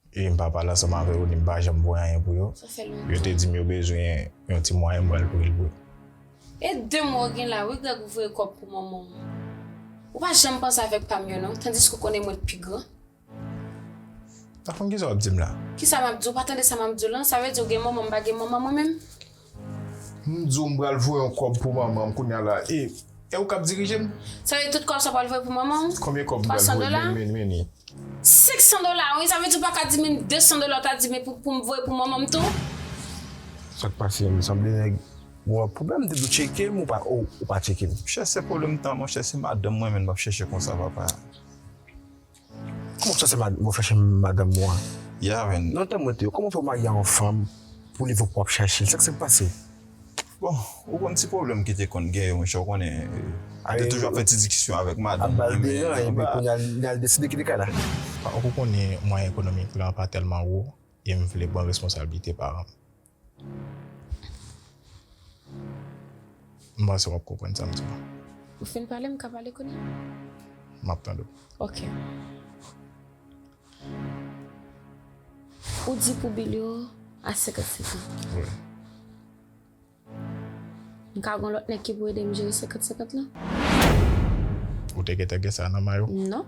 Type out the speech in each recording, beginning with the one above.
E m pa pale ansanm avè yo ni m pa janm voye anyen pou yo. Sa fè lontan. Yo te di m yo bezwen yon ti mwayen m pral voye l pou yo. E de mwa w gen la wi Grèg ou voye kòb pou manman w. Ou pa janm panse avèk pa m yo non tandiske w konnen mwen t pi gran. Tafon kisa w ap di m la? Kisa m ap di w? Ou pa tande sa m ap di w lan? Sa vle di w gen manman m pa gen manman mwen menm? M diw m pral voye yon kob pou manman m kounya la e e ou kap dirije m. Sa vle di tout kob sa pral voye pou manman w? Konbyen kob m pral voye pou manman m meni? 500 dola wi sa vle di ou paka di menm 200 dola ou ta di men pou m voye pou manman m tou? Sak pase m sanble nèg ou an pwoblèm m te di w tcheke m ou pa ou pa tcheke m. Chè se pwoblèm tan monchè se madanm mwen menm wap chèche konsa papa. Kòman fè se mwen chache madanm mwen an? Ya men. Nan tan mwen te yo, kòman fè ou marye a yon fanm pou li vòk wap chache l? Sa ki sot pase? Bon, ou konn ti pwoblèm ki te konn gen yo monchè ou konnen mwen te toujou ap fè ti dikisyon avèk madanm mwen men. Ap bay deran epi kounya li al deside kite kay la. Fòk ou konnen mwayen ekonomik lan pa tèlman wo e m vle pran responsablite paran m. M panse w ap konprann sa m di w la. Ou fin pale, m ka pale kounye a? M ap tande w. Ok. Ou di pou Bilio a 55 an. Wi. M ka gen yon lòt nèg ki pou ede m jere 50 50 lan? Ou te gentan gen sa nan may ou? Non.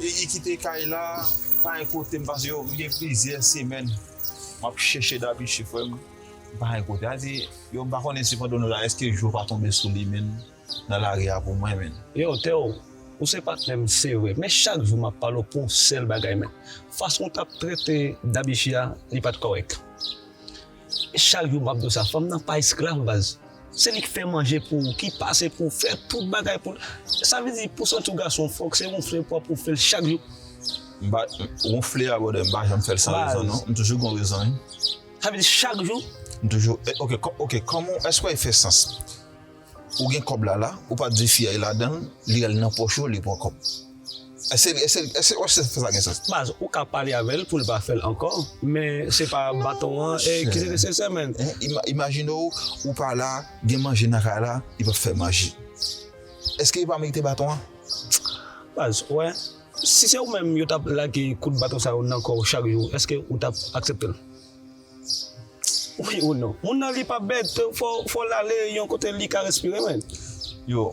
Li kite kay la pa gen kote m pase yo gen plizyè semèn map chèche Dabichi frè m pa gen kote a di yo m pa konnen si pandan nou la èske jou pa tonbe sou li menn nan lari a pou mwen menn. Yow Teo ou se patnè m se vre men chak jou map pale w pou yon sèl bagay men fason w tap trete Dabichi a li pat kòrèk. Chak jou map diw sa fanm nan pa esklav baz se li k fè manje pou ou ki pase pou ou fè tout bagay pou li sa vle di pou santi w gason fòk se wonfle w pou wonfle l chak jou. M pa wonfle a brother m pa janm fèl san rezon non m toujou gon rezon wi. Sa vle di chak jou? M toujou ok ok kòman w èske w wè l fè sans. Ou gen kòb la la ou pa di fi a e ladanl li al nan pòch ou li pran kòb eske eske wap se sa gen sans. Baz ou ka pale avèl poul pa fèl ankò men se pa baton an ki se nesesè menn. Imajine w ou pa la gen manje nan kay la li pap fè manje eske li pa merite baton an. Baz ou wè si se ou menm yo tap lage kout baton sa yo nan kòw chak jou eske ou tap akseptel. Wi ou non. Moun nan li pap bèd tou fòw lale yon kote li ka respire menn. Yo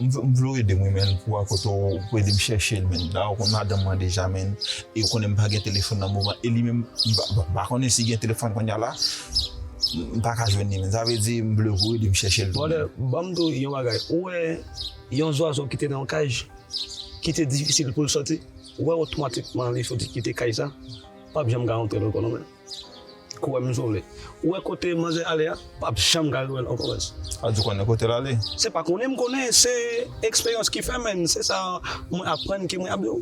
m vle w edem wi menn pou a kote w pou edem chèchel menn la ou konn madanm mwen deja menn e ou konnen m pa gen telefòn nan moman e li menm m pa konnen si gen telefòn konnya la m pa ka jwenn li menn sa vle di m vle pou w edem chèchel tou menn. Brother banm diw yon bagay ou wè yon zwazo ki te nan yon kaj ki te difisil poul sòti ou wè otomatikman li sòti kite kaj sa. Pap janm ka antre ankò non men kou wèm m sove ou wè kote manzè ale a pap janm ka rewèl ankò res. Sa di konnen kotel ale. Se pa konnen m konnen se eksperyans ki fè men se sa mwen aprann ke mwen ap diw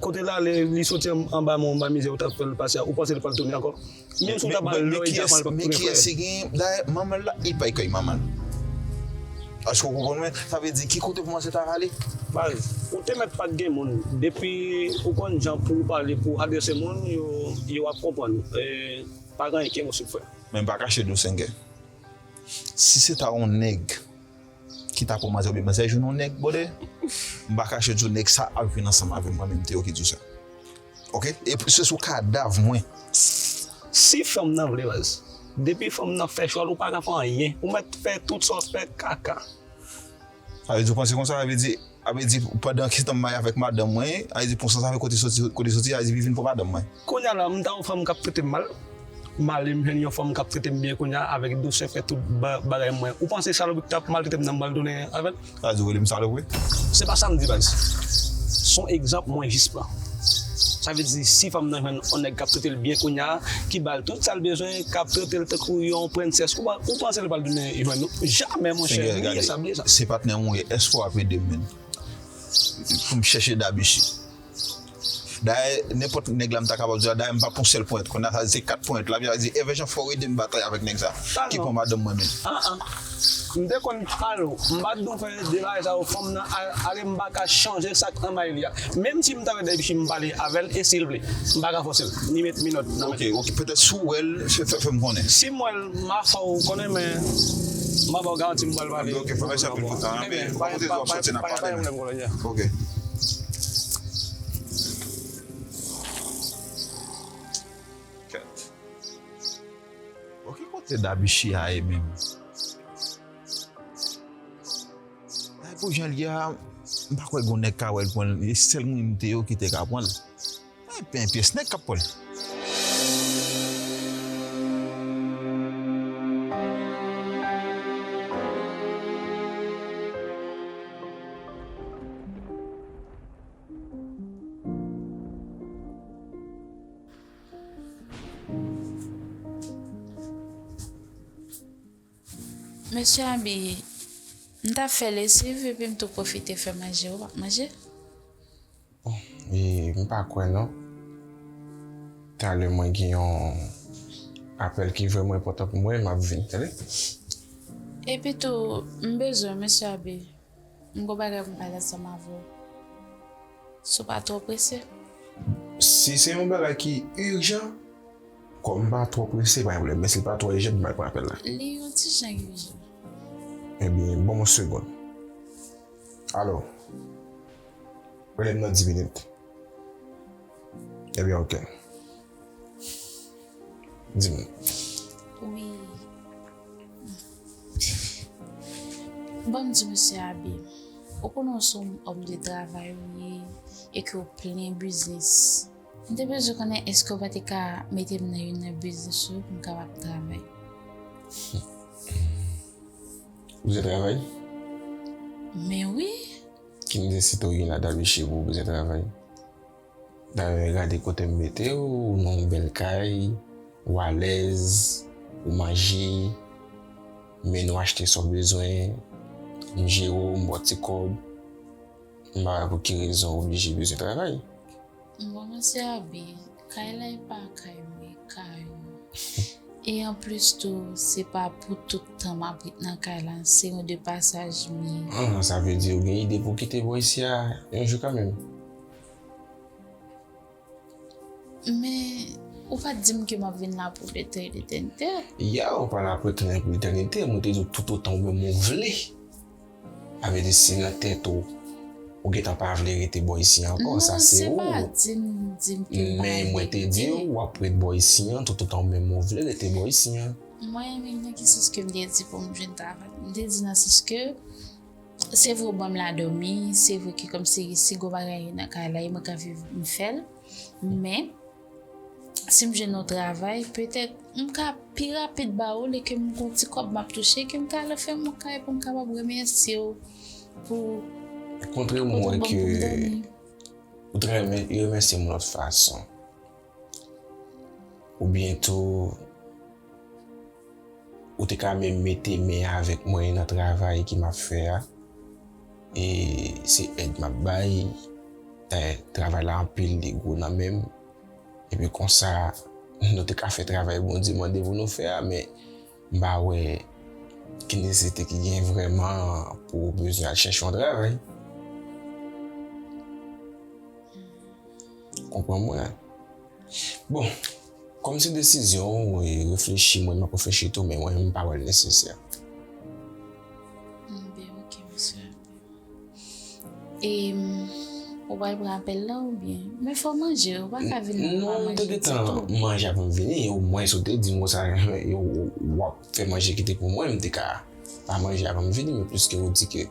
kotel ale li soti anba men anba mizè ou tap fèl pase a ou panse li pral tounen ankò. Menm si w ta pral lò e Japan li pap tou gen frè. Dayè manman l la epay kay manman l. Èske w konprann mwen? Sa vle di ki kote pou mwen se ta rale? Baz, ou te mèt pat gen moun. Depi ou konn jan pou w pale pou w adrese moun, yo ap konprann ou. E pa gen anyen ki enposib frè. Men m pa kache di w Sengè. Si se ta yon nèg. ki ta pou manzè oubyen manzè jwenn yon nèg brother m pa kache diw nèg sa ap vin ansanm avèm mwen menm Théo ki diw sa ok e se sou kadav mwen si fanm nan vle baz depi fanm nan fè chwal ou paka fè anyen ou mèt fè tout sa w fè kaka sa vle di ou panse konsa sa vle di. A vle di pandan ki tan m marye avèk madanm mwen, a vle di pou san sa vle kote soti, kote soti a vle di li vin pou madanm mwen. Kounya la m ta yon fanm kap trete m mal, m ale m jwenn yon fanm kap trete m byen kounya avèk dousè fè tout bagay mwen, ou panse salopri ki tap maltrete m nan m pral tounen avèl? Sa vle di ou rele m salopri? Se pa sa m di baz, son egzanp mwen jis pran. Sa vle di si fanm nan jwenn on nèg kap tretel byen kounya ki bal tout sal bezwen kap tretel tankou yon prensès ou panse li pral tounen jwenn ou jamè monchè bliye sa bliye sa. Se patnè mwen ye eske wap edem menn poum chèche dam isi dayè nenpòt nèg la mta kapab di dayè mpap on sèl ponyèt kounya sa vle di se 4 ponyèt lap di evè jan fòw edem batay avèk nèg sa ki pran madanm mwen menn. M te konn pral ou, m pa t dou fè de bagay sa yo fanm nan ale m pa ka chanje sak anba li a menm si m ta wè dèy fi m pale avè l e si l vle m pa ka fòse l ni met minòt nan men l. Ok ok petèt si w wè l fè m konnen. Si m wè l m a fè w konnen men m a ba w garanti m pral pale ok mèsi anpil pou tan an ebyen m pa gen dwa sòti n ap pale men ok. Bon ki kote Dabichi a ye menm? Ay pou janl ye a m pa kwè gon nèg ka wèl pranl e sèl moun m te yo ki te ka pranl. Ay pen pyès nèg kap pranl. Mesye Abi, m ta fè lesiv epi m tou pwofite fè manje. Ou pap manje? E, m pa kwè non. Talè mwen gen yon apèl ki vrèman enpòtan pou mwen, m ap vin, tande? Epitou, m bezwen w, mesye Abi. M gon bagay pou m pale ansanm avè w si w pa twò prese. Si se yon bagay ki urjan. Kòm m pa twò prese pa gen pwoblèm men si l pa twò urjan m pral pran apèl la. Li yon ti jan urjan. Ebyen ban m yon segond. Alo. Rele m nan 10 minit. Ebyen ok. Di m. Wi. Ban m di Mesye Abe, ou konnen ou se yon òm de travay ou ye e ke ou plen biznis. M te bezwen konnen èske ou pa te ka mete m nan youn nan biznis ou yo pou m kapab travay. Ou bezwen travay? Men wi. Ki biznis si te w gen ladan l Mesye Abe ou bezwen travay? Dayè gade kote m mete w, ou nan yon bèl kay, ou alèz, ou manje, m mennen w achte sa w bezwen, m jere w, m ba w ti kòb, m pa wè pou ki rezon ou oblije bezwen travay. Bon mesye Abi, kay la e pa kay mwen, e kay ou. E anplis tou, se pa pou tout tan m ap ret nan kay la, se yon de pasaj m ye. Sa vle di ou gen ide pou w kite bò isi a yon jou kanmenm? Men, ou pa t di m ke m ap vin la pou etèn etènite. Ya, ou pa la pou etèn etènite. Mwen te di w toutotan ou menm ou vle. Sa vle di si nan tèt ou, ou gen tan pa vle rete bò isi an ankò, sa se ou. Non, se pa di m di m ke m pa vle rete. Men, mwen te di w w ap ret bò isi an toutotan ou menm ou vle rete bò isi an. Mwen, nan ki sans ke m te di pou m vin travay? M te di nan sans ke. Se vre ou banm la domi, se vre ki kòm si si gwo bagay nan kay la e mwen ka viv m fèl, men si m jwenn yon travay petèt m ka pi rapid ba ou li ke m gon ti kòb map touche ke m ka al fè m yon kay pou m kapab remèsye w pou kote ou banm pou m domi. Ou t renmen remèsye m lòt fason. Ou byen tou, ou te ka menm mete men avèk mwen nan travay ki map fè a. E se èd map bay, dayè travay la anpil li gwo nan menm. Epi konsa nou te ka fè travay Bondye mande pou nou fè a men m pa wè ki nesesite ki gen vrèman pou ou bezwen al chèche yon travay. Konprann mwen. Bon, kòm se desizyon ou e reflechi mwen, m'ap reflechi tou men mwen m'pa wèl nesesè. Anben ok mesye. E ou pral pran apèl la oubyen? Men fò manje, ou pa ka vin la pa manje ditou. Mwen te gentan manje avanm vini, omwens ou te dim konsa w'ap fè manje ki te pou mwen, m'te ka pa manje avanm vini men plis ke ou di ke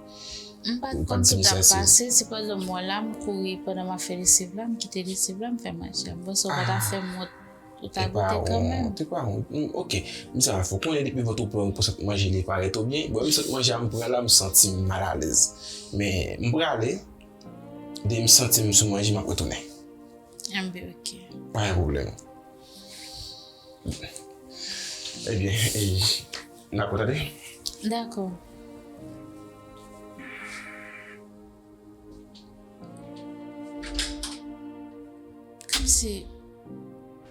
M pat konn sa kap pase si pa egzanp mwen la m kouri pandan map fè lesiv la m kite lesiv la m fè manje a m panse ou pa ta fèm wont ou ta goute kanmèm. Te pa wont te pa wont ok m sa fè w konnen depi vant ou plen ou sot manje li parèt ou byen bon lèm sot manje a m pran la m santim mal alèz men m prale dèyè m santim sou manje map retounen. Mwen byen ok. Pa gen pwoblèm. Ebyen, nan ap kontakte? Dakò. Kòmsi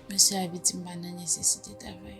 mesye Abi di m pa nan nesesite travay?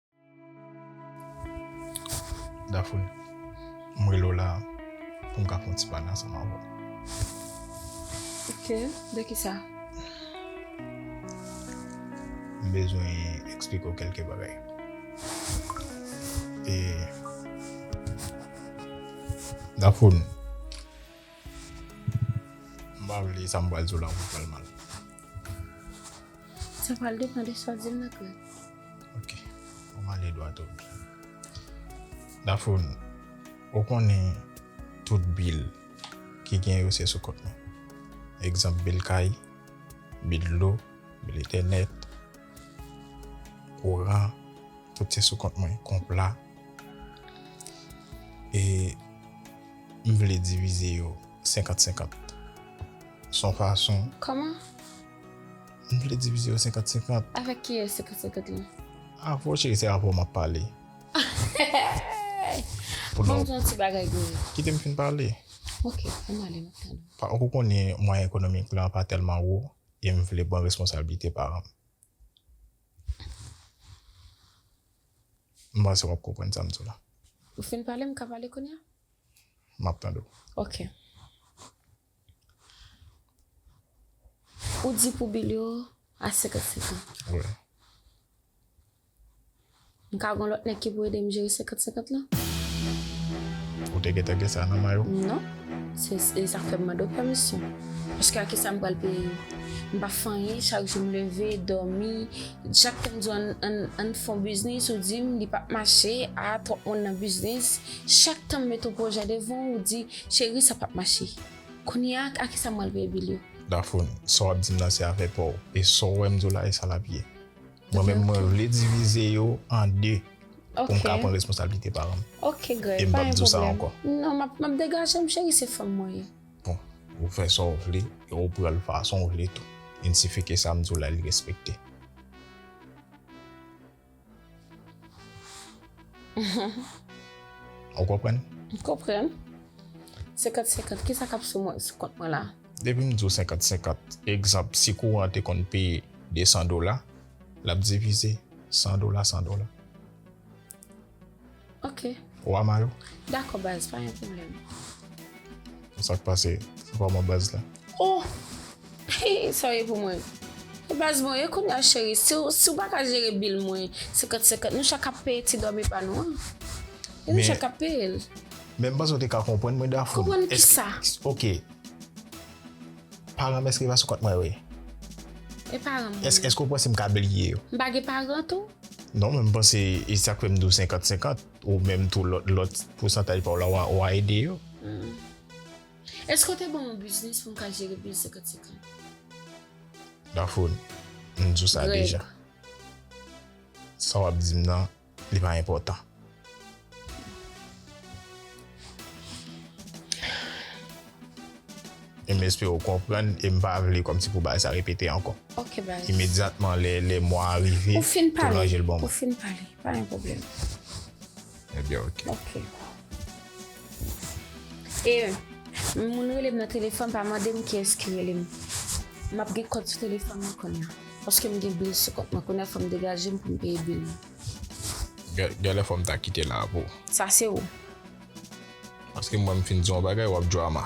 Daphne, m rele w la pou m ka fè yon ti pale ansanm avè w. Ok, de ki sa? M bezwen eksplike w kèlke bagay. E Daphne. M pa vle sa m pral di w la pou fè l mal. Sa pral depan de sa w di m nan Claude. Ok, an m ale dwat o bi. Daphoun, ou konnen tout bil ki gen yo se sou kont mwen. Egzanp bil kay, bil dlo, bil entènèt, kouran, tout se sou kont mwen, konpla. E. M vle divize yo senkant senkant. S on fason. Kòman? M vle divize yo senkant senkant. Avèk kiyès senkant senkant lan? Avè w cheri se avè w m ap pale. Bon m di yon ti bagay gouye. Kite m fin pale. Ok, an n ale m ap tann ou. Pa ou konnen mwayen ekonomik lan pa tèlman wo e m vle pran responsablite paran m. M panse w ap konprann sa m di w la. Ou fin pale, m ka pale kounye a? M ap tande w. Ok. Ou di pou Bilio a 55 an. Wi. M ka gen lòt nèg ki pou ede m jere 50-50 lan? Ou te gentan gen sa nan may ou? Non. Se e sa k fè m mande w pèmisyon. Paske a ki sa m pral peye yo? M pa fè anyen, chak jou m leve, dòmi, Jack te mdi ann fon biznis ou dim li pap mache ah twòp moun nan biznis chak tanm met yon pwojè devan ou di cheri sa pap mache kounya a kisa mwen al peye bil yo. Daphone sa wap dim nan se afè paw e sa w wè mdiw la esa lap ye mwen menm mwen vle divize yo an 2 poum ka pran responsablite paranm e mpap diw sa ankò. Ok Greg pa gen pwoblèm non map degajem cheri se fanm mwen ye. Ou fè sa w vle e ou pran l fason w vle tou. Vin si fi ke sa m di w la li respekte. Ou konprann? M konprann. Senkant senkant, kisa k ap sou mwen, sou kont mwen la? Depi m di w senkant senkant, egzanp si kouran an te konn peye 200 dola, l ap divize 100 dola 100 dola. Ok. Ou ama yo? Dakò baz, pa yon pwoblèm. Sa k pase? Sa pa mwen baz la? Oh! Hii, sa w ye pou mwen? E baz mwen, e kounye a cheri, si w, si w pa ka jere bil mwen senkant senkant, nou chak ap peye ti dòmi pa nou an. E nou chak ap peye l. Men m panse w te ka konprann mwen Dafou. Konprann kisa? Ok. Paranm eske yo pa sou kont mwen vre? E paranm mwen yo? Eske ou panse m ka bliye yo? M pa gen paran tou? Non men m panse e sak fè m di w 50 50 ou menm tou lòt pousantaj pa w la w a ede yo. Eske ou te ban mwen biznis pou m ka jere bil 50 50? Daphone, m di w sa deja. Sa w ap di m nan. Li pa enpòtan. E m espere w konprann e m pa vle kòmsi pou bagay sa repete ankò. Ok baz. Imedyatman lè mwa a rive, tou ranje l ban mwen. Ou fin pale, pa gen pwoblèm. Ebyen ok. Ok. E, moun rele m nan telefòn pa mande m kiyès ki rele m. M ap gen kòd sou telefòn mwen kounya. Paske m gen bil sou kont mwen kounya fòm degajem poum peye bil mwen. Genlè fòm ta kite la pou ou. Sa se ou. Paske mwen m fin di w yon bagay wap drama.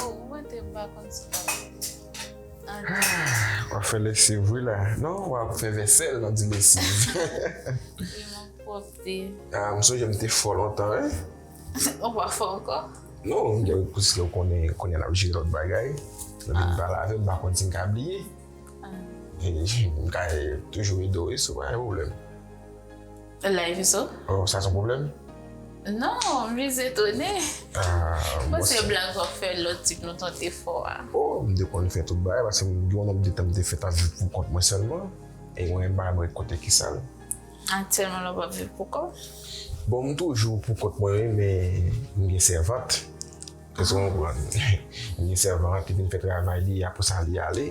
Oh mwen te pa konn sa wap di. Wap fè lesiv wi la. Non wap fè vèsèl nan di lesiv. Li man pwopte. Ah m sonje m te fò lontan wi. Ou pa fò ankò? Non pwiske ou konnen kounya nap jere lòt bagay. Depi m pa lave m pa konn si m ka bliye. Ah. M ka toujou ede w wi si w pa gen pwoblèm. Live ou so? Oh sa son problem? Non, m jis etone. Bon se blag wap fè lòt tip nou ton te fò a. Oh m te konn fè tout bagay paske m gen yon nonb de tan m te fè tap viv pou kont mwen sèlman e mwen menm m pa menm ret kote ki sal. Aktyèlman la w pap viv pou kòw? Bon m toujou pou kont mwen wi men m gen sèvant. Èske w konprann? M gen sèvant ki vin fè travay li apresa li ale.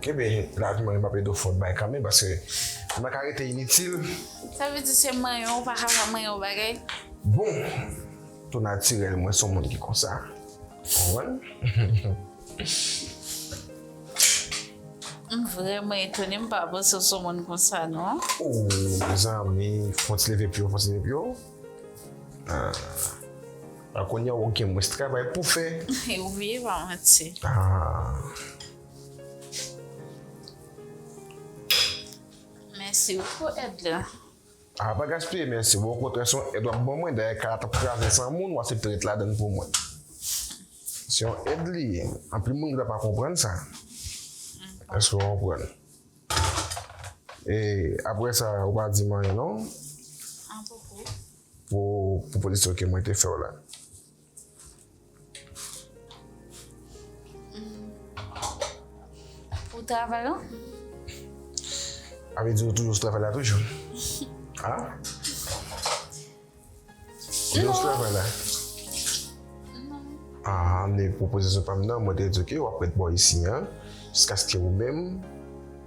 Kenbe la vi mwen map ede w fon bagay kanmenm paske ou paka rete initil. Sa vle di se manyen ou paka fè manyen ou bagay? Bon tou natirèl mwen son moun ki konsa konprann. M vrèman etone m pa panse w son moun konsa non. Ooh zanmi fon ti leve pye w fon ti leve pye w. Ahh. A kounye a ou gen mwens travay pou fè. E ou veye pa manti. Ahh. Mèsi wi pou èd la. Ahh pa gaspiye mèsi wi, okontrè se yon èd wap ban mwen, dayè kay la tap kraze san moun, ou asepte ret ladann pou mwen. Se yon èd li ye, anpil moun ta pa konprann sa. Èske ou konprann? E aprè sa ou pa di m anyen non. An poko. Pou pwopozision ke mwen te fè w la. Pou travay lan? A vle di ou toujou sou travay la toujou? An? Ou gen yon travay la? Aa, men pwopozisyon pa m nan, mwen te di w ke w ap ret bò isi an, jiskaske ou menm,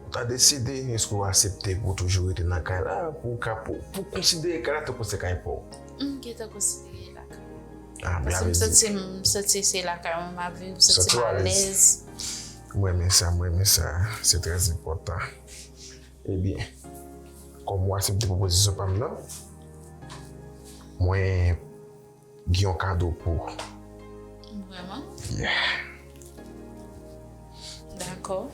ou ta deside eske w asepte pou w toujou rete nan kay la, pou w ka, pou w konsidere kay la tankou se kay pa w. M gentan konsidere l lakay mwen. A, byen, alezi. Paske m santi se lakay mwen m ap viv, m santi m alèz. M renmen sa, m renmen sa. Se trèzenpòtan. Ebyen, kòm ou asepte pwopozisyon pa m nan, mwen gen yon kado pou ou. Vrèman? Yeah. Dakò.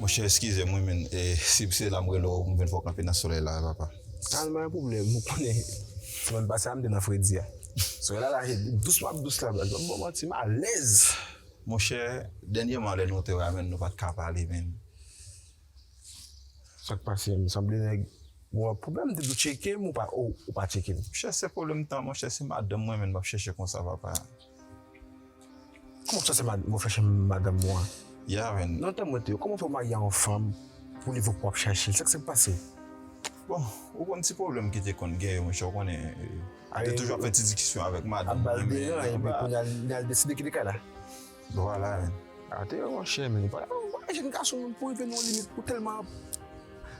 Monchè eskize mwen men e si se la m rele w m vin fè w kanpe nan solèy la a papa. Al mwen an pwoblèm ou konnen semèn pase a m te nan fredi a. Solèy la rache dous m ap dous la baz banm bon manti m alèz. Monchè dènyèman lè nou te wè a menn nou pa t ka pale menn. Sa k pase menm sanble nèg ou gen pwoblèm m te di w tcheke m ou pa tcheke m. Monchè se pwoblèm tan monchè se madanm mwen menn m ap chèche konsa papa. Kòman sa se wap chache madanm ou an? Ya men, nan tan mwen te yo kòman fè ou marye a yon fanm pou li vle pou wap chache l, sa ki sa k pase? Bon, ou konn ti pwoblèm ki te konn gen yo monchè ou konnen li te toujou ap fè ti dikisyon avèk madanm mwen men anba. Anba deran epi kounya li al deside kite kay la? Vwala men. A te wè monchè men, bagay jenn gason pou rive nan yon limit pou tèlman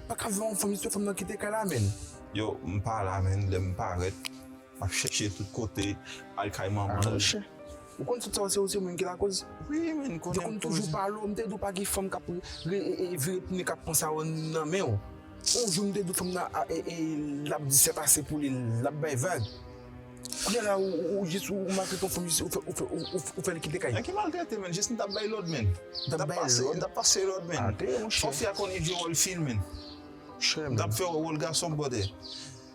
paka vle yon fanm jis yon fanm nan kite kay la men. Yo, m pa la men, lè m parèt. Map chèche tout kote al kay manman l. Ou konn tout sa yo se ou se moun ki lakoz. Wi men m konnen m koz. Yo konn toujou pale w m te di w pa gen fanm kap vire tounen kap pran sa yo nan men w. On jou m te di w fanm nan lap di sèt ase pou li lap bay vag. Kounya la ou jis ou maltrete yon fanm jis ou fè li kite kay. Nan ki maltrete menn jis m tap bay lòd menn. M tap pase lòd menn. Fò fi a konnen jwe wòl fi l menn. M tap fè wòl gason bwòdè.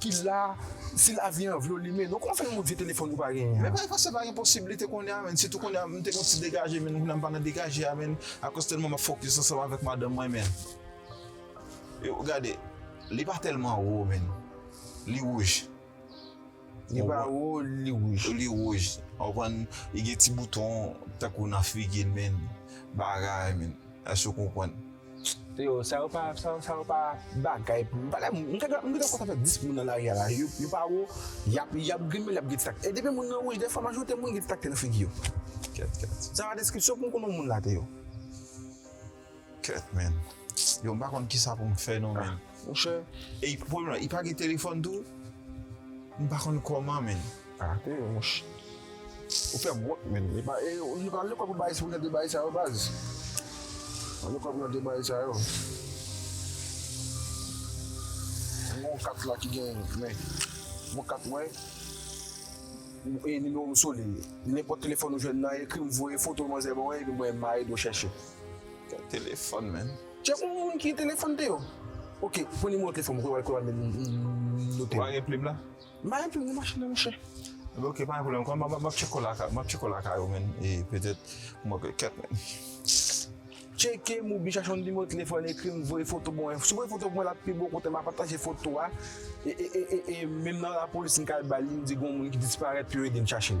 ki la si lavi an vle w limen non kòman fè yon moun vye telefòn ou pa genyen an. Men bagay konsa pa gen posiblite kounye a menn sitou kounye a m te gon ti degaje menn kounye a m pa nan degaje a menn akoz tèlman m ap fokis ansanm avèk madanm mwen menn yo gade li pa tèlman wo menn li wouj li pa wo li wouj li wouj ou konprann li gen ti bouton tankou nan figi l menn bagay menn èske w konprann. Yo sa yo pa sa sa yo pa bagay pou m pa m m ta ka m ta ka konsa fè 10 moun nan lari a la yo yo pa wo yap yap grimel yap gen ti tak e depi moun nan wouj dèfwa majorite moun gen ti takte nan figi yo kèt kèt sa se pa deskripsyon pou m konnen moun la te yo kèt menn yo m pa konn kisa pou m fè non menn monchè e pwoblèm la li pa gen telefòn tou m pa konn kòman menn. Arrete yo monche. Ou fem wont menn. E pa e yo pa lekol pou bay pou jan de bagay sa yo baz. Pa lekol pou jan de bagay sa yo. Mwen gon kat la ki gen men. Bon kat mwen. E nimewo m sou li. Nenpot telefon ou jwenn nan ekri m voye foto manzè ban mwen epi mwen ma ede w chèche. Kèl telefon menn. Chèf ou moun ki telefon te yo. Ok pran nimewo telefon m pou yo al kwe wal men note. Ou pa gen plim la? Ba yon plim machine an monchè. Ok pa gen pwoblèm kon map tcheko lakay map tcheko lakay ou menn e petèt mwen pè kèt menn. Tcheke m ou byen chache yon nimewo telefòn ekri m voye foto pou mwen si w voye foto pou mwen lap pi bon kote ma pataje foto a e menm nan lapolis m ka al bal li m di gon moun ki disparèt pou yo ede m chache l.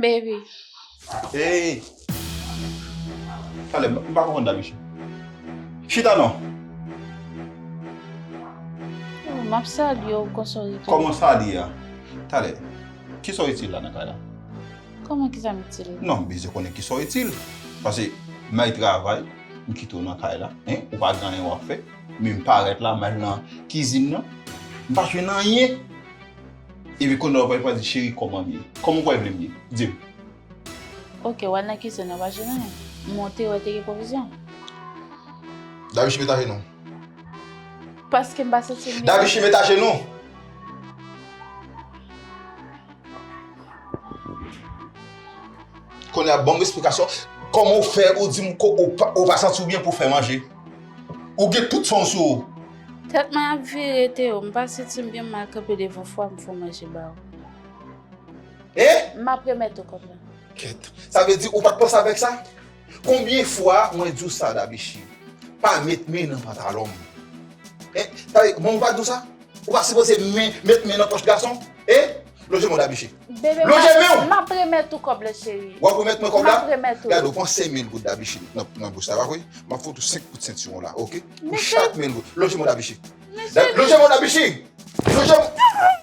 Baby. Hey! Kale, m pa konprann dam ishi. Chita non! M ap salye w konsa w itil. Kòman sa li a? Kale, kisa w itil la nan kay la? Kòman kisa m itil la? Non, m bezwen konnen kisa w itil. Pase m al travay, m kite w nan kay la, hein, ou pa gen anyen w ap fè. Men m parèt la, m al nan kizin nan, m pa jwenn anyen. Epi kounye a ou pral di cheri kòman m ye? Kòman ou kwè vle m ye? Di m. Ok, w al nan kizin an, pa jwenn anyen. M monte wè te gen pwovizyon. Davichi met ajenou. Paske m pa santi m byen. Davichi met ajenou. Kounye a ban m esplikasyon. Kòman ou fè ou di m ou pa santi w byen pou w fè manje? Ou gen tout san w sou ou. Tèt mwen ap vire Teo, m pa santi m byen m mal kanpe devan fwa m fon manje ba ou. Hein? M ap remèt ou kòb la. Kèt. Sa vle di ou pa t panse avèk sa? Konbyen fwa mwen di w sa Dabechi? Pa met men nan pantalon m. Hein? Tande, mwen m pa di w sa? Ou pa sipoze men met men nan pòch gason. Hein? Lonje men w Dabechi. Lonje men w! Map remèt ou kòb la cheri. Wap remèt mwen kòb la? Map remèt ou. Gade ou pran 5 mil goud Dabichi nan bous la pa vre? Map fout ou 5 kout sentiwon la ok? Pou chak mil goud. Lonje men w Dabichi. Lonje men w Dabichi! Lonje men w!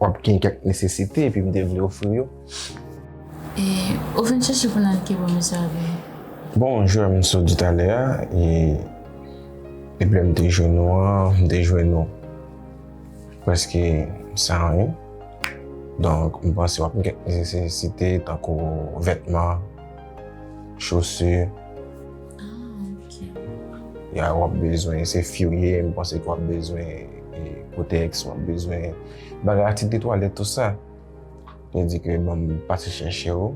w ap gen kèk nesesite epi m te vle ofri yo. E ou vin chèche pou n al ki bò mesye a veye? Bon, jan m sot di talè a, e depi lè m te jwenn ou an, m te jwenn ou prèske san anyen. Donk m panse w ap gen kèk nesesite tankou vètman, chosu. Ah, ok. Ya wap bezwen se few ye m panse ke wap bezwen kotex wap bezwen bagay atik de twalèt tout sa li di ke banm pase chèche w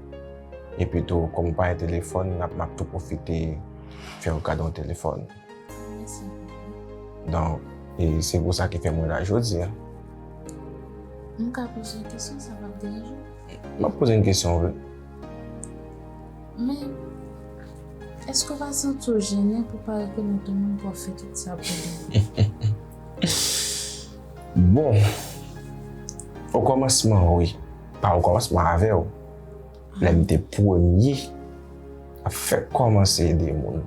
epi tou kòm ou pa gen telefòn map tou pwofite fèw kado yon telefòn donk se pou sa ki fè mwen la jodi a M ka poze yon kesyon sa pap deranje w? Map poze yon kesyon wi Men, èske w pa santi w jennen pou w pa rekonèt ou menm pou w ap fè tout sa pou li? Bon, okòmansman wi. Pa okòmansman, avè w. Lè m te premye ap fè kòmanse ede moun.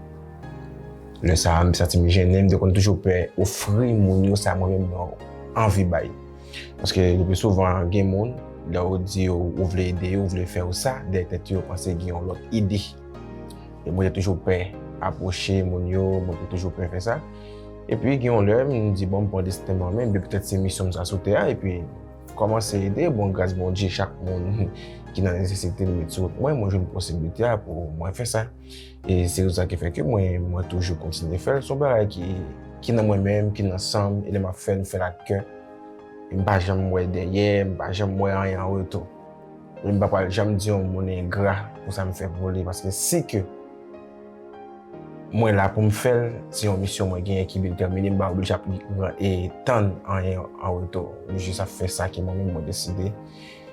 Lè sa a, m te santi m jennen, m te konn toujou pè ofri moun yo sa mwen menm mwen anvi bay. Paske le pi souvan gen moun, lè ou di yo ou vle ede yo, ou vle fè yo sa, dèyè tèt yo yo panse gen yon lòt ide. E mwen te toujou pè apwoche moun yo, mwen te toujou pè fè sa. E pi gen yon lè, mwen di bon, mwen pran desten mwen men, bi petèt se misyon mwen sa sou tè a, e pi kòmanse ede, bon gras Bondye chak moun ki nan nesesite li met sou wout mwen, mwen jwenn posiblite a pou mwen fè sa. E se rezon sa ki fè ke mwen, mwen toujou kontinye fè l. Se yon bagay ki, ki nan mwen menm, ki nan san m, e lè m ap fè l, m fè l ak kè. E m pa janm wè dèyè, m pa janm wè anyen an retou. E m pa pral janm di yon moun engra pou sa m fè pou li, paske si ke mwen la pou m fè l, se yon misyon mwen genyen ki bil tèmine, m pa oblije ap tann anyen an retou. M jis ap fè sa ke mwen menm mwen deside.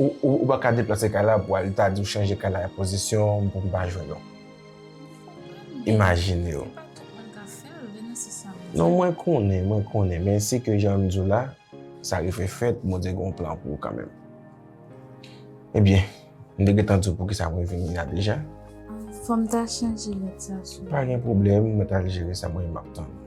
Ou pa ka deplase kay la pou al ta di ou chanje kay la e pozisyon pou m pa jwenn ou. Imajine ou. Non mwen konnen, mwen konnen, men se ke jan m di w la, sa rive fèt, Bondye gen yon plan pou ou kanmenm. Ebyen, m te gentan di w poukisa mwen vini la deja. Fò m ta chanje lèt sa sou. Pa gen pwoblèm, mwen ta jere sa mwen menm m ap tann ou.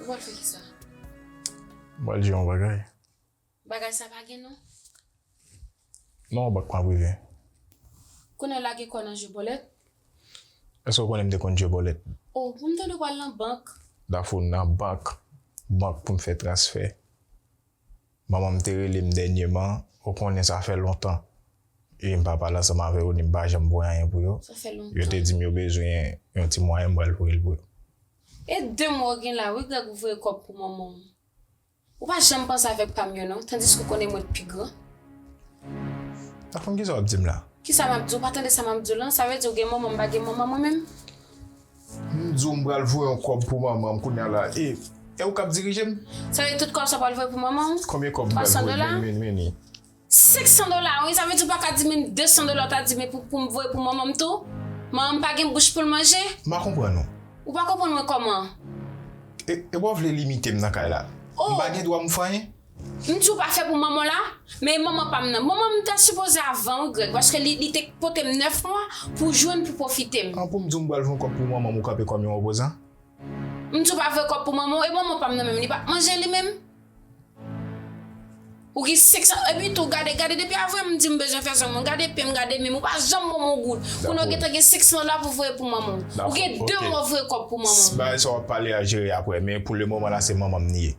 Ou pral fè kisa? M pral di yon bagay. Bagay sa pa gen non? Non ou bak pa prive. Konnen lage kò nan je bòlèt? Eske ou konnen m te konn je bòlèt? Oh, pou m tande ou pral nan bank. Dafou nan bank? Bank pou m fè transfè? Manman m te rele m dènyeman, ou konnen sa fè lontan ui m pa pale ansanm avè yo ni m pa janm voye anyen pou yo. Yo te di m yo bezwen yon ti mwayen m pral voye l pou yo. E de mwa ou gen la wi Grèg ou voye kòb pou manman w. Ou pa janm panse avèk pa m yo non tandiske ou konnen mwen t pi gran. Nan fon kisa w ap di m la? Kisa m ap di w, ou pa tande sa m ap di w lan, sa vle di ou gen manman m pa gen manman mwen menm? M di w m pral voye yon kòb pou manman m kounya la e e w k ap dirije m? Sa vle di tout kòb sa w pral voye pou manman w? Konbyen kòb m pral voye? 300 dola? Men ni. 500 dola wi! Sa vle di w pa ka di menm 200 dola w ta di men pou m voye pou manman m tou? Manman m pa gen bouch pou l manje? M pa konprann ou. Ou pa konprann mwen kòman? E wap vle limite m nan kay la? M pa gen dwa m fanyen? M tjou pa fè pou manman la, men e manman pam nan. Manman m ta sipoze avan wi Greg paske li li te k potem 9 mwa pou jwenn pou pwofite m. An pou m di w m pral voye kòb pou manman m ou kanpe kòm yon opozan? M tjou pa voye kòb pou manman w e manman pam nan menm li pap manje li menm? Ou gen 5 san epi tou gade gade depi avwe m di m bezwen fè zwen mwen gade pem gade menm ou pa janm ban m yon goud kounye w gentan gen 500 dola pou voye pou manman w. Ou gen 2 mwa voye kòb pou manman w. Bagay sa wap pale a jere aprè men pou le moman la se manman m li ye.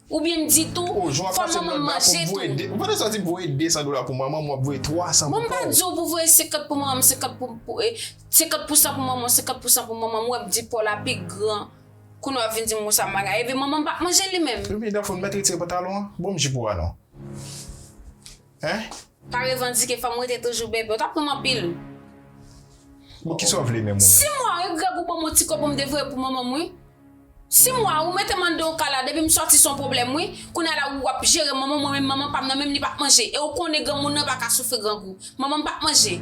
Ou byen di tou fò manman m manje tou. Ou pa ta sa di voye 200 dola pou manman m wap voye 300 pou kò w. Mwen pa di w pou voye 50 pou manman m 50 pou e 50 pou san pou manman w 50 pou san pou manman m ou ap di po la pi gran kounye w ap vin di m konsa m bagay epi manman m pap manje li menm. Ebyen Daph ou t mèt retire pantalon an? Bonm jip ou a non. Hein? Pa revandike fanm rete toujou bebe ou tap pranm anpil. Bon kisaw vle menm ou menm. Sim wa wi Greg ou banm yon ti kob poum devoye pou manmanm wi Sim wa ou metem anndan yon kay la depim sòti son pwoblèm wi Kounya la ou wap jere manman mwen menm manman pam nan menm li pa k manje e ou konnen granmoun nan paka soufri grangou Manmanm pa k manje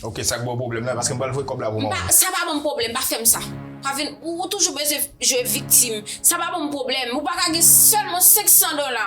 Ok sak baw pwoblèm la paskem pral voye kob la pou manmanm. Sa pa banm pwoblèm pa fèm sa Pa vin ou toujou bezwen jwe viktim sa pa banm pwoblèm ou paka gen sèlman 500 dola.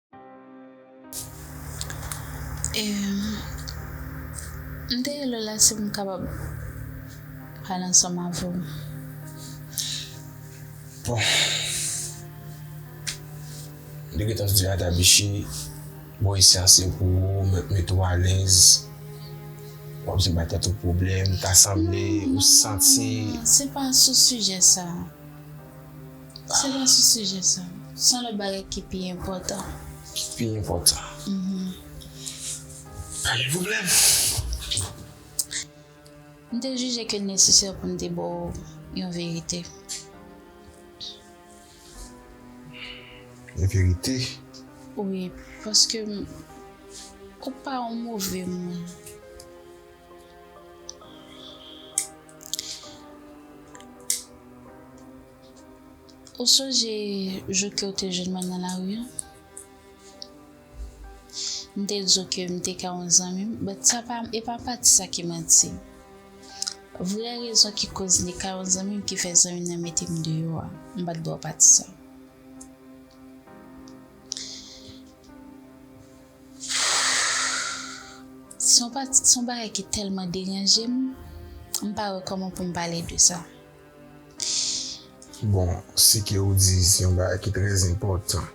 M te rele w la si m kapab pale ansanm avè w. Bon, m te gentan di Ada Bichi, bon isi a se pou ou, mwen te mete w alèz, wap vin bay tèt ou pwoblèm, ta sanble ou santi. Non, se pa sou sijè sa. Se pa sou sijè sa. Son lòt bagay ki pi enpòtan. Ki pi enpòtan. Pa gen pwoblèm. M te jije ke l nesesè pou m te ba w yon verite. Yon verite? Wi, paske ou pa yon move moun. Ou sonje jou ke w te jwenn mwen nan lari an? M te di w ke m te ka yon zanmi m, but sa pa, e pa pati sa ki manti. Vrè rezon ki koz m te ka yon zanmi m ki fè zanmi m nan mete m deyò a, m pa t ba w pati sa. Se yon pati, se yon bagay ki tèlman deranje m, m pa wè kòman pou m pale de sa. Bon, se ke ou di se yon bagay ki trè enpòtan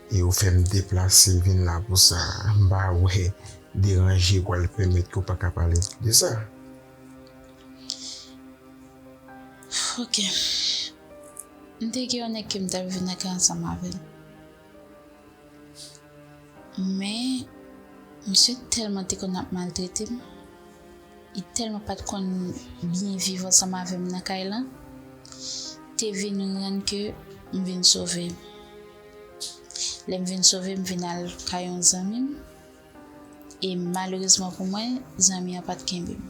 e ou fè m deplase vin la pou sa, m pa wè deranje pral pèmèt ke w pa ka pale de sa. Ok. M te gen yon nèg ke m t ap viv nan kay ansanm avè l. Men, misye tèlman te konn ap maltrete m, li tèlman pa t konn byen viv ansanm avè m nan kay lan, te vin rann ke m vin sove. Lè m vin sove, m vin al kay yon zanmi m, e malerezman pou mwen, zanmi an pa t kenbe m.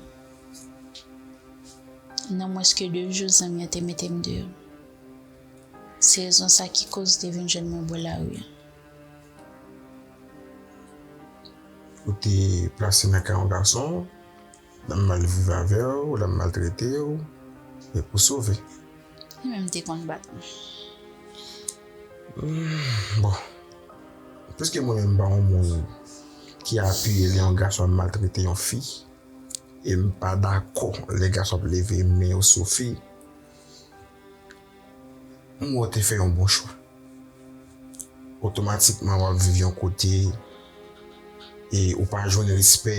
Nan mwens ke de jou, zanmi an te mete m deyò. Se rezon sa ki koz te vin jwenn mwen bò lari a. Ou te plase nan ka yon gason, l ap mal viv avè w, l ap maltrete w, e pou sove. Li menm te konn bat mwen. Bon, piske mwen menm m pa yon moun ki apiye lè yon gason ap maltrete yon fi, e m pa dakò lè gason ap leve men yo sou fi, Mwen wè w te fè yon bon chwa. Otomatikman wap viv yon kote e ou pa jwenn respè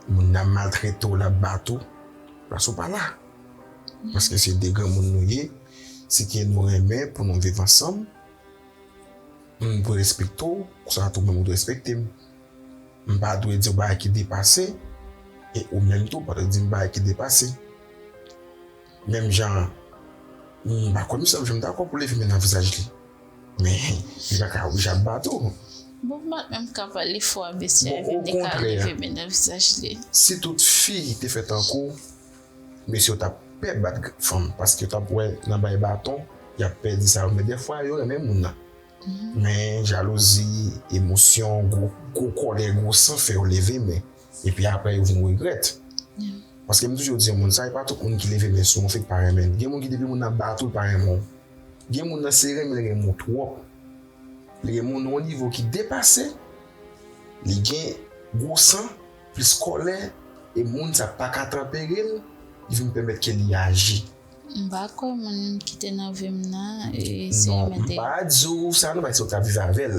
moun nan ap maltrete w lap bat ou plas ou pa la. Paske se 2 granmoun nou ye, se ke nou renmen pou nou viv ansanm, mwen dwe respekte w konsa tou menm ou dwe respekte m. M pa dwe di w bagay ki depase, e ou menm tou ou pa dwe di m bagay ki depase. Menm jan an, m pa kwè misye ap janm dakò pou leve men nan vizaj li. Men, li pa ka oblije ap bat ou. Bon, m pat menm ka pale fò a mesye a vin di k al leve men nan vizaj li. Si tout fi te fè tankou w, mesye yo t ap pè bat fanm paske yo t ap wè nan bay baton y ap pè di sa yo. Men dèfwa yo renmen moun nan. Men jalouzi, emosyon, gwo kòlè, gwo san fè yo leve men epi aprè yo vin regrèt. Paske m toujou di moun sa e pa tout moun ki leve men sou ou fèk pa renmen l. Gen moun ki depi moun nan bat ou l pa renmen w. Gen moun nan se renmen l renmen w twòp. Li renmen w nan yon nivo ki depase, li gen gwo san, plis kòlè e moun sa paka tanpere l, ki vin pèmèt ke li aji. M pa kwè moun ki te nan vi m nan se yon mèt de. Non, m pa di w sa nan, m pa di se w k t ap viv avè l.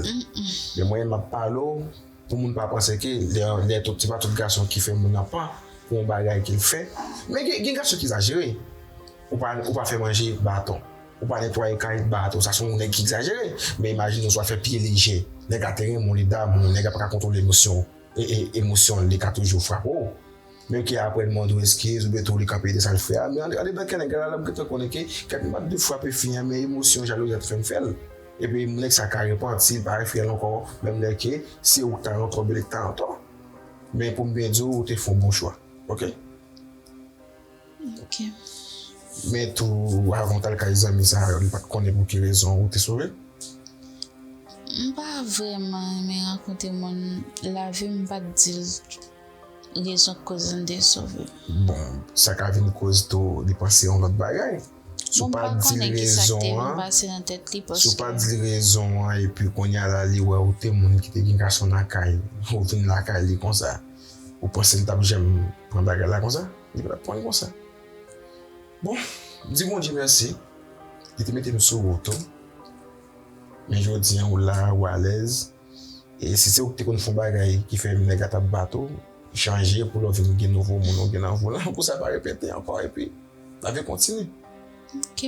Men mwen m ap pale w pou moun pa panse ke lè tout, se pa tout gason ki fè moun an pan pou yon bagay ke l fè. Men gen gason ki egzajere. Ou pa fè manje, baton. Ou pa netwaye kay, baton. Sa se yon nèg ki egzajere. Men imajine w si w ap fè pye lejè. Nèg la te renmen w, li damou w, nèg la pa ka kontwole emosyon l, emosyon l, li ka toujou frape w. Menm ke aprè li mandé w eskiz oubyen tou li kanpe de sa l fè a, men andedan kè nèg la la m gentan konnen ke kè m pat dwe frape fi an men emosyon jalouzi a t fè m fè l. Epi nèg sa ka repanti, li pa refè l ankò menm lè ke se ou k ta antò oubyen li k ta antò. Men pou m byen di w, ou te fè yon bon chwa. Ok. Ok. Men tou avan w t al kay zanmi sa yo, li pat konnen pou ki rezon ou te sove? M pa vrèman renmen rankontre moun, lavi m pat di l. Rezon k koz n te sove. Bon, sa ka vin koz tou li panse yon lòt bagay. Si w pa di l rezon an, si w pa di l rezon an epi kounya la li wè ou te moun ki te gen gason nan kay, ou vin lakay li konsa, ou panse l t ap janm pran bagay la konsa? Li pa t ap pran l konsa. Bon, di Bondye mèsi, li te mete m sou wout ou, men jodi an ou la, ou alèz. E si se ou ki te konn fon bagay ki fè yon nèg a tap bat ou, chanje pou lè w vin gen nouvo moun ou gen nan volan an pou sa pa repete ankò epi lavi kontinye. Ok.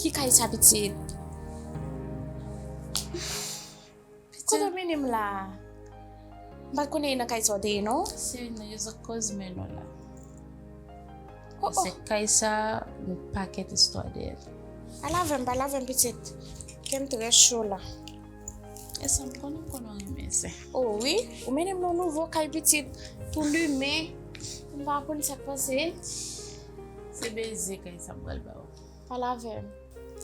Ki kay sa pitit? Kote w mennen m la? M pat konnen e nan kay sa w te ye non. Se nan yo zòt koz men nou la. Se kay sa yon pakèt istwa dèyè l. Al avè m, al avè m pitit. Kè m trè cho la. E sa m konnen konnen w renmen zen. O wi, ou mennen m nan nouvo kay pitit pou limen. M pa konn sa k pase. Se beze kay sa m pral ba w. Pale avè m.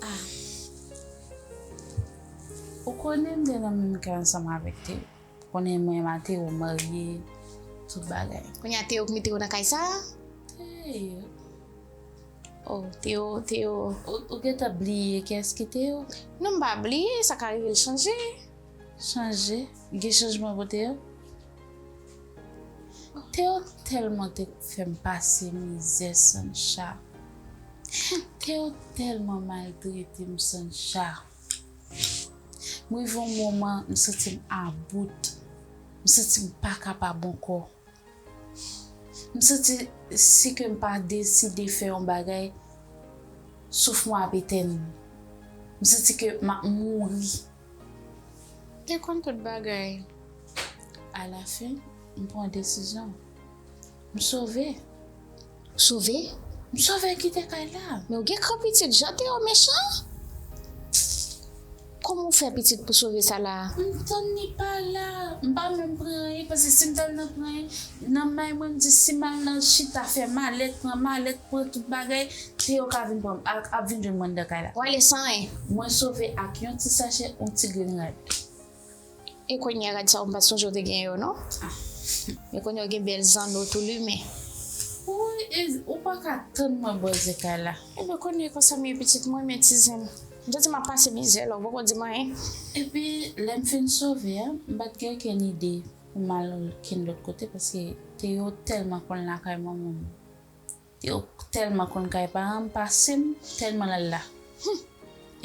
A. Ou konnen m te nan menm kay ansanm avèk Teo. Ou konnen mwen m ak Teo marye, tout bagay. Kounya Teo k mete w nan kay sa a? Teo. Oh Théo, Théo, ou gentan bliye kiyès ki Théo? Non m pa bliye, sa ka rive l chanje. Chanje? Gen chanjman pou Théo? Théo tèlman te fè m pase mizè Sancha. Théo tèlman maltrete m Sancha. M rive yon moman m santi m about, m santi m pa kapab ankò. M santi si ke m pa deside fè yon bagay, souf mwen ap etèn. M santi ke m ap mouri. M te konn tout bagay. Alafen, m pran desizyon. M sove. Ou sove? M sove kite kay la. Men ou gen kran pitit, jan Teo mechan! Kòman ou fè pitit pou sove sa la? M tann li pa la, m pa menm pran anyen paske si m t al nan pran anyen, nan may mwen m di si m al nan chita fè malèt, pran malèt, pran tout bagay, Teo ka vin pran m, ap vin jwenn mwen anndan kay la. Ou ale san anyen? Mwen sove ak yon ti sachè, yon ti grenn rad. E kounye a gad sa ou m pat sonje ou te gen yo non. E kounye ou gen bèl zanno tou limen. Woy e ou pa ka tann mwen bò zin kay la. Ebyen kounye konsa m ye pitit m renmen ti zen. M santi m ap pase mizè la ou poko di m anyen. Epi lè m fin sove a m pat gen okenn ide pou m al okenn lòt kote paske Théo tèlman konn lakay manman m. Yo telman konn kay paran m pase m telman l al la humm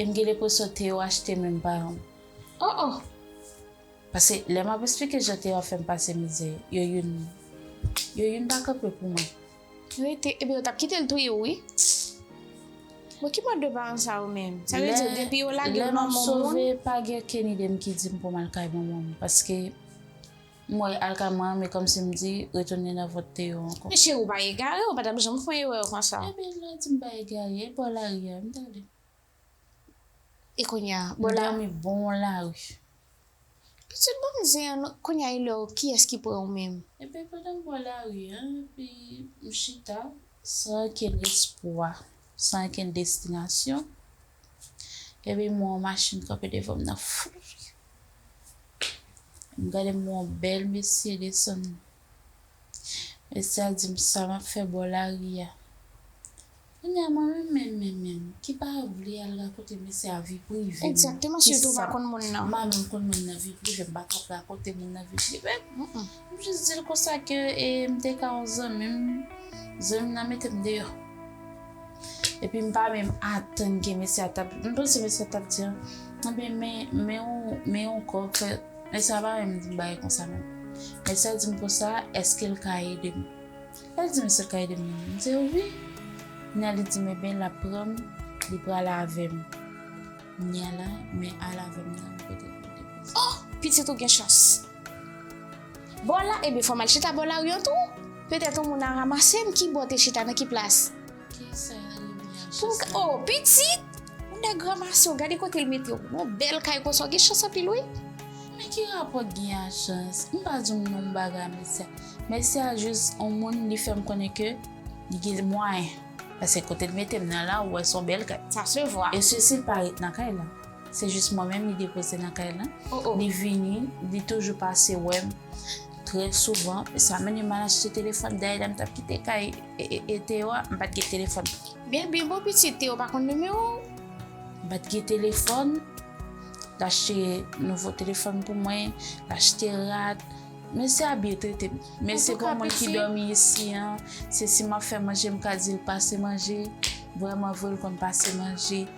e m gen lepresyon Théo achte menm paran m oh oh pase lè map esplike jan Théo ap fè m pase mizè yo youn yo youn pa kanpe pou mwen. Rete ebyen yo tap kite l touye w wi bon ki mòd de paran sa yo menm sa vle di depi yo lage w nan men w moun. Lè map sove pa gen kenn ide m ki di m pou m al kay manman m paske. M wè alkama an men kòmsi m di retounen nan vant Théo ankò. Men cheri w pa egare w pa tap janm fon erè konsa. Epi l la di m pa egare e bò lari a m tande. E kounye a bò la. M dòmi bon lari. Pitit banm zen an non kounye a e lè w kiyès ki pran w menm. Epi pandan m bò lari a epi m chita. San ankenn espwa san ankenn destinasyon epi m wè yon machin kanpe devan m nan fri. Gade m yon bèl mesye desann. Mesye a di m sa m ap fè bò lari a. Kounye a mwen menm menm menm menm ki pa vle al rakonte mesye a vi prive m. Kisa m pa konn moun nan vi prive m pa t ap rakonte moun nan vi prive m. M jis di l konsa ke e m te ka yon zanmi m, zanmi m nan mete m deyò. Epi m pa menm atann ke mesye a t ap, m panse mesye a t ap di, Anben men, men yon, men yon kò ke, mesye a pa menm di m bagay konsa menm. Mesye a di m konsa, Èske l ka ede m? Lè l di m èske l ka ede m nan, m di l wi. Kounye a li di m enben l ap pran m, li pral avè m. Kounye a la, men al avè m nan, m pote l pou depoze. O! Pitit ou gen chans. Bò la, ebyen fòm al chita bò lari an tou. Petèt yon moun a ramasem ki bò te chita nan ki plas. Kisa Remy ap Pou m ka, o, pitit! Yon nèg ranmase w, gade kote l mete w. Yon bèl kay konsa w gen chans anpil wi. Men ki rapò gen a chans? M pa di w non bagay Mèsi a. Mèsi a jis yon moun li fè m konnen ke li gen mwayen. Paske kote l mete m nan la ou wè son bèl kay. Sa se vwa. E sesi l pa ret nan kay la. Se jis mwen menm li depoze nan kay la. Li vini, li toujou pase wè m trè souvan. E sa mennen m al achte telefòn. Dayè lè m t ap kite kay Teo a, m pa t gen telefòn. Byen byen bon pitit, Teo pa konn nimewo w? M pa t gen telefòn. L achte nouvo telefòn pou mwen, l achte rad. Mesye a byen trete m. Men se pou mwen ki dòmi isi an. Se si m ap fè manje m ka di l pase manje. Vrèmanvre l konn pase manje.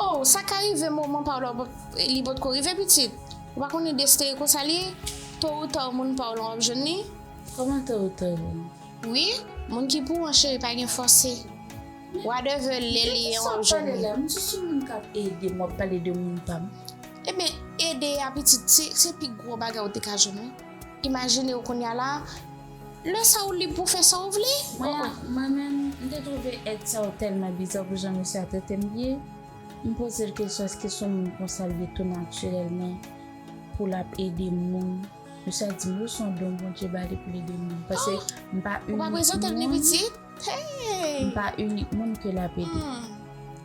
Oh sa ka rive moman paw la li potko rive pitit ou pa konnen destee konsa li ye to ou taw moun paw lan wap jwenn li. Koman to ou taw jwenn li. Wi moun ki pou an cheri pa gen fòse wadèvè lè li ye wap jwenn li. Men kisa wap pale la m sou sou moun kap ede m wap pale de moun pam. Ebyen ede a pitit se pi gro bagay ou te ka jwenn wi. Imajine w kounye a la, lè sa ou lib pou w fè sa ou vle. Mwen a, mwen menm, m te twouve èd sa yo tèlman bizàn pou jan mesye a trete m ye. M poze l kesyon èske s on moun konsa l ye tou natirèlman pou l ap ede moun. Mesye a di m wi s on don Bondye ba li pou l ede moun. Pase m pa imite moun. Ou pa prezante l ni piti? M pa inik moun ke l ap ede.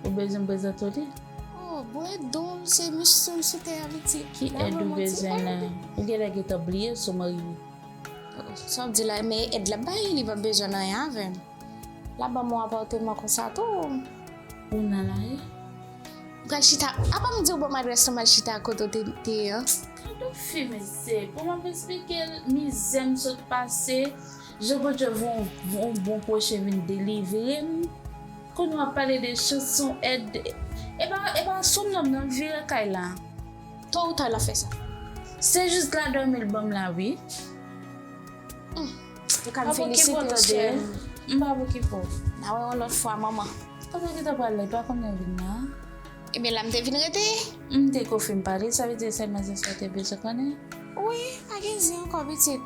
Ou bezwen m prezante w li? Oh, bwè do l se mèch sèm sou tè a li di. Ki èd ou bezwen la? Ou gen lè gentan bliye si w marye. Sa w di la, men èd l ap bay, li p ap bezwen anyen avè m. L ap ban m yon apatman konsa tou. Ou nan la ri? M pral chita, apa m di w ban m adrès la m al chita kote w te ye an? Gad yon fi mezye, pou m ap esplike l mizè m sot pase. Jan bondye von bon proche vin delivrem kounya wap pale de chanson ed epa epa sonam nan vire kay la to ou ta lap fè sa se jus la domi l banm la wi humm ou ka m felisitew chèm m pa pou ki pou na wè yon lot fwa manman. Kote ki ta pral la li pa konn lè vin la. Ebyen la m te vin rete. M te ko fin pale, sa vle di se sèl manzè sa w te bezwen konnen? Wi, pa gen zen ankò pitit.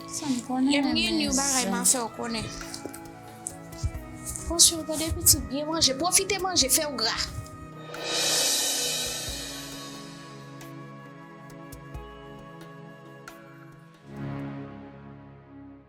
Sa m konnen renmen zen. Lè m gen yon bagay m a fè w konnen. Pran swen w tande pitit, byen manje, pwofite manje, fè w gra.